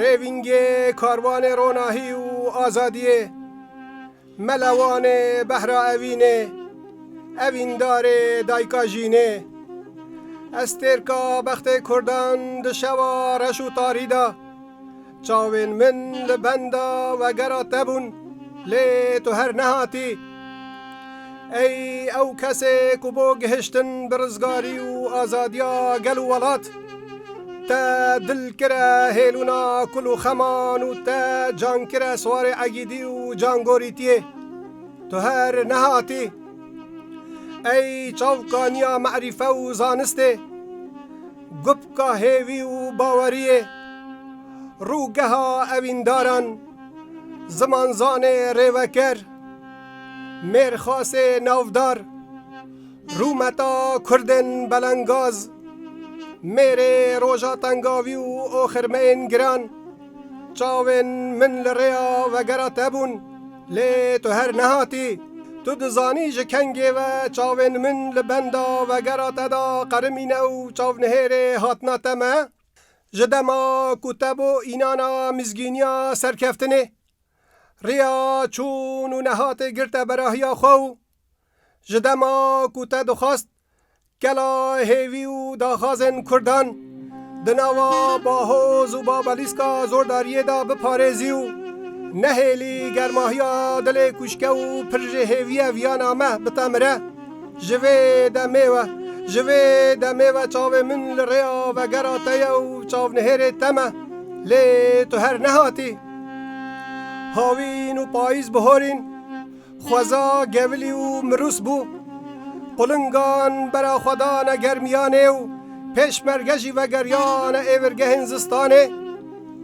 Rêvîngê Karwanê Ronahî û Azadiyê, Mele Wanê Behra Evînê, Evîndarê Dayika Jînê, Estêrka Bextê Kurdan di şewa reş û tarî de çavên min li benda wegera te bûn lê tu her nehatî. Ey ew kesê ku bo gihiştin bi rizgarî û azadiya gel û welat te dil kire hêlûna kul û xeman û te can kire siwarê egîdî û cangorîtiyê. Tu her nehatî. Ey çavkaniya merîfe û zanistê, gupka hêvî û baweriyê, rûgeha evîndaran, zimanzanê rêveker, Mêrxasê navdar, rûmeta Kurdên belengaz, mêrê roja tengavî û oxirmeyên giran çavên min li rêya vegera te bûn lê tu her nehatî. Tu dizanî ji kengê ve çavên min li benda vegera te de qerimîne û çavnihêrê hatina te me ji dema ku te bo înana mizgîniya serkeftinê Riya çûn û nehatê girte berahiya xwe û ji dema ku te dixwest kela hêvî û daxwazên Kurdan di nava Bahoz û Babelîska zordariyê de biparêzî û nehêlî germahiya dilê kûşke û pir jê hêviye viyana me bite mire, ji vê demê ve, ji vê demê ve çavê min li rêya vegera te ye û çavnihêrê te me, lê tu her nehatî. Hawîn û payîz biharîn xweza gevilî û mirûs bû. Qulingan bera xwe dane germiyanê û pêşmerge jî vegeriyane êvirgehên zistanê.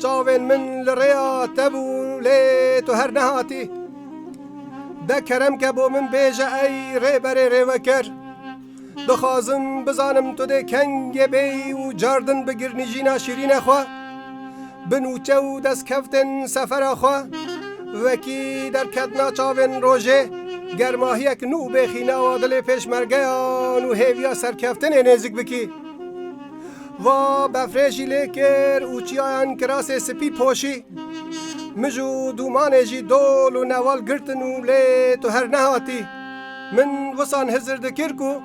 Çavên min li rêya te bû lê tu her nehatî. De kerem ke bo min bêje ey rêberê rêveker. Dixwazim bizanim tu dê kengê bê û cardin bigirnî jîna şîrîne xwe. Bi nûçe û destkevtên sefera xwe wekî derketina çavên rojê germahiyek nû bê xînawa dilê pêşmergeyan û hêviya serkeftinê nêzik bikî. Va befrê jî lê kir û çiyayan kirasê spî poşî. Mij û dûmanê jî dol û newal girtin û lê tu her nehatî. Min wisan hizir dikir ku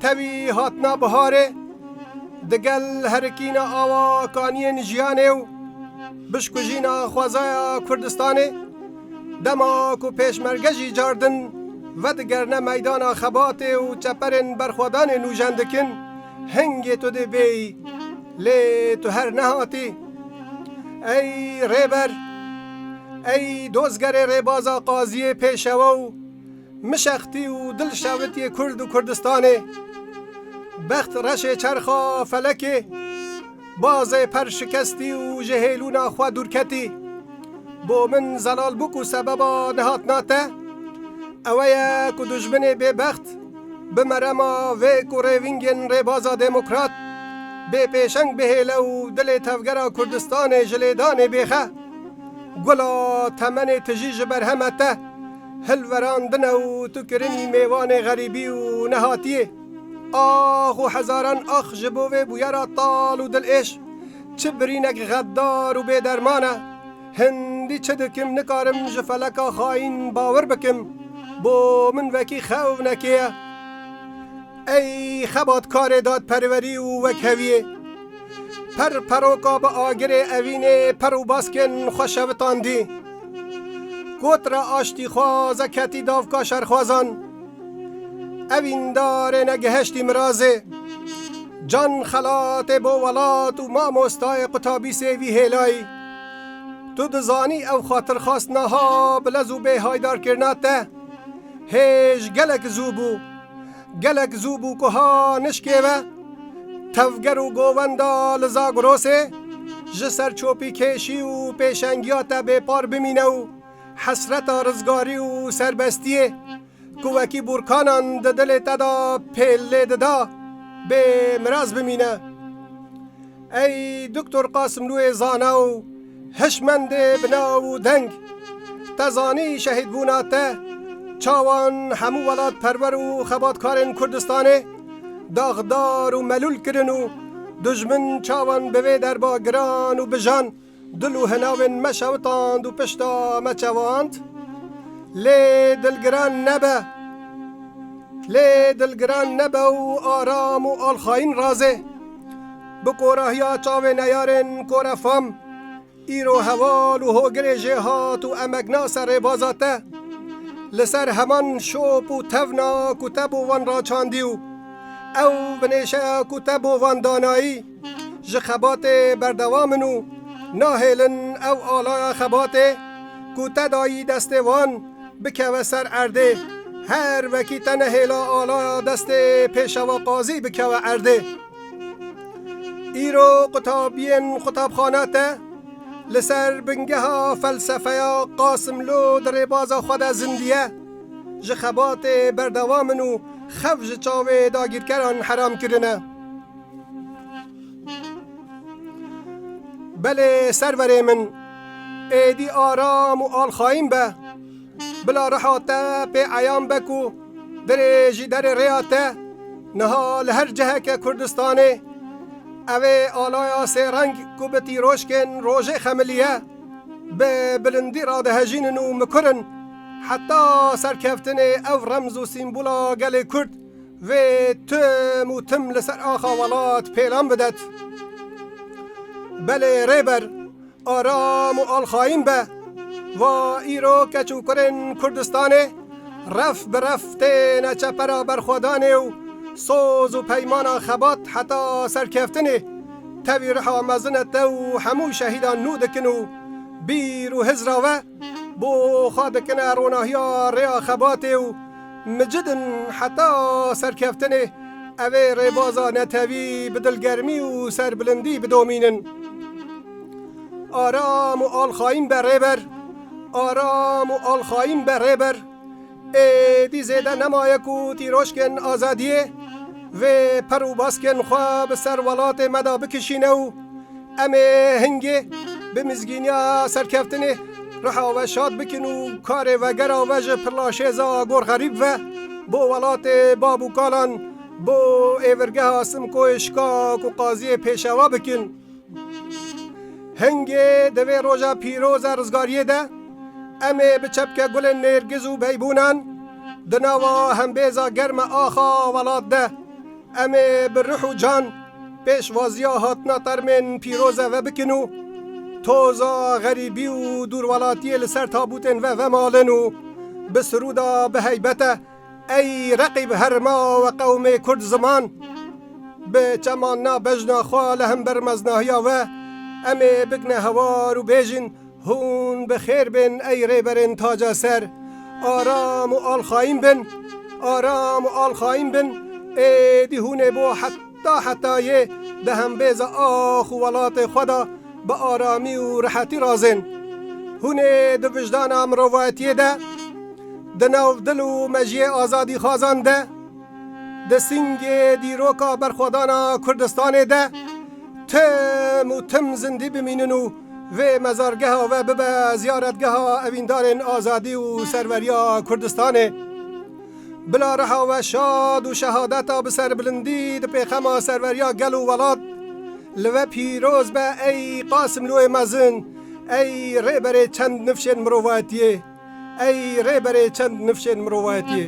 tevî hatina biharê digel herikîna awa kaniyên jiyanê û bişkujîna xwezaya Kurdistanê dema ku pêşmerge jî cardin vedigerine meydana xebatê û çeperên berxwedanê nûjen dikin, hingê tu dê bêyî lê tu her nehatî. Ey Rêber, ey Dozgerê Rêbaza Qaziyê Pêşewe û. Mişextî û dil şewitiyê Kurd û Kurdistanê, bext reşê çerxa felekê, bazê per şikestî û ji hêlûna xwe dûrketî. Bo min zelal bû ku sebeba nehatina te ewe ye ku dijminê bêbext bi merema vê ku rêvingên Rêbaza Demokrat bê pêşeng bihêle û dilê tevgera Kurdistanê ji lêdanê bêxe. Gula temenê tijî ji berheme te. Hilverandine û tu kirinî mêvanê xerîbî û nehatiyê. Ax û hezaran ax ji bo vê bûyera tal û dilêş. Çi birînek xeddar û bêderman e. Hindî çi dikim nikarim ji feleka xayîn bawir bikim. Bo min wekî xewnekê ye. Ey xebatkarê dadperwerî û wekheviyê. Per peroka bi agirê evînê per û baskên xwe şevitandî. Gotra aştî xwaze ketî davka şerxwazan. Ev îndarê ne gihiştî mirazê. Can xelatê bo welat û mamostayê qutabî sêvî hêlayî. Tu dizanî ew xatirxwast naha bi lez û bê haydarkirina te hêj gelek zû bû. Gelek zû bû ku ha nişkê ve tevger û govenda li Zagrosê ji ser çopîkêşî û pêşengiya te bêpar bimîne û hesreta rizgarî û serbestiyê ku wekî bûrkanan di dilê te de pêl lê dida bê miras bimîne. Ey Doktor Qasimlûyê zana û hişmendê bi nav û deng, te zanî şehîdbûna te çawan hemû welatperwer û xebatkarên Kurdistanê daxdar û melûl kirin û dijmin çawan bi vê derba giran û bijan? Dil û hinavên me şewitand û pişta me çewand, lê dilgiran nebe. Lê dilgiran nebe û aram û alxayîn razê. Bi korahiya çavê neyarên Kore Fam, îro heval û hogirê jê hat û emegna ser rêbaza te. Li ser heman şop û tevna ku te bo wan raçandî û ew binêşeya ku te bo wan danayî, Ji xebatê berdewam in û nahêlin ew alaya xebatê ku te dayî destê wan, bikeve ser erdê. Her wekî te nehêla alaya destê pêşewa qazî bikeve erdê. Îro qutabiyên qutabxana te li ser bingeha felsefeya Qasimlo di rêbaza xwe de zindiye, Ji xebatê berdewam in û xew ji çavê dagîrkeran heram kirine. Belê serverê min êdî aram û alxayîn be. Bila reha te pê eyan be ku dirê jî derê rêya te niha li her ciheke Kurdistanê ev ê alaya sêreng ku bi tîroşkên rojê xemiliye bi bilindî radihejînin û mikurin heta serkeftinê ew remz û sîmbola gelê Kurd Vê tim û tim li ser axa welat pêlan bidet. Belê rêber aram û alxayîn be. Va îro keç û kurên Kurdistanê ref bi ref têne çepera berxwedanê û soz û peymana xebat heta serkeftinê tevî riha mezin e te û hemû şehîdan nû dikin û bîr û hizra we Bo xwe dikine ronahiya rêya xebatê û micidin heta serkeftinê, ev ê rêbaza netewî bi dilgermî û serbilindî bidomînin. Aram û alxayîn be rêber, aram û alxayîn be rêber. Êdî zêde nemaye ku tîroşkên azadiyê vê per û baskên xwe bi ser welatê me de bikişîne û em ê hingê bi mizgîniya serkeftinê riha we şad bikin û karê vegera we ji Pirlaşêza Agor Xerîb ve bo welatê bav û kalan bo êvirgeha Simkoyê Şika ku qaziyê pêşewa bikin. Hingê di vê roja pîroza rizgariyê de em ê bi çepke gulên nêrgiz û beybûnan di nava hembêza germ e axa welat de em ê bi ruh û can pêşwaziya hatina termên pîroz e vebikin û toza xerîbî û dûrwelatiyê li ser tabûtên ve vemalin û bi siruda bi heybete Ey reqîb herima we qewmê kurd ziman bi çeman na bejna xwe li hember meznahiya we em ê bikne hewar û bêjin hûn bi xêr bên ey rêberên taca ser aram û alxayîn bin aram û alxayîn bin êdî hûn ê bo heq Ta hetayê di hembêza ax û welatê xwe de bi aramî û rehetî razên. Hûn ê di vijdana mirovayetiyê de, di nav dil û mejiyê azadîxwazan de, di singê dîroka berxwedana Kurdistanê de tim û tim zindî bimînin û vê mezargeha we bibe ziyaretgeha evîndarên azadî û serweriya Kurdistanê. Bila reha we şad û şehadeta bi serbilindî di pêxema serweriya gel û welat. Li we pîroz be ey Qasimlûyê mezin, ey rêberê çend nifşên mirovayetiyê, ey rêberê çend nifşên mirovayetiyê.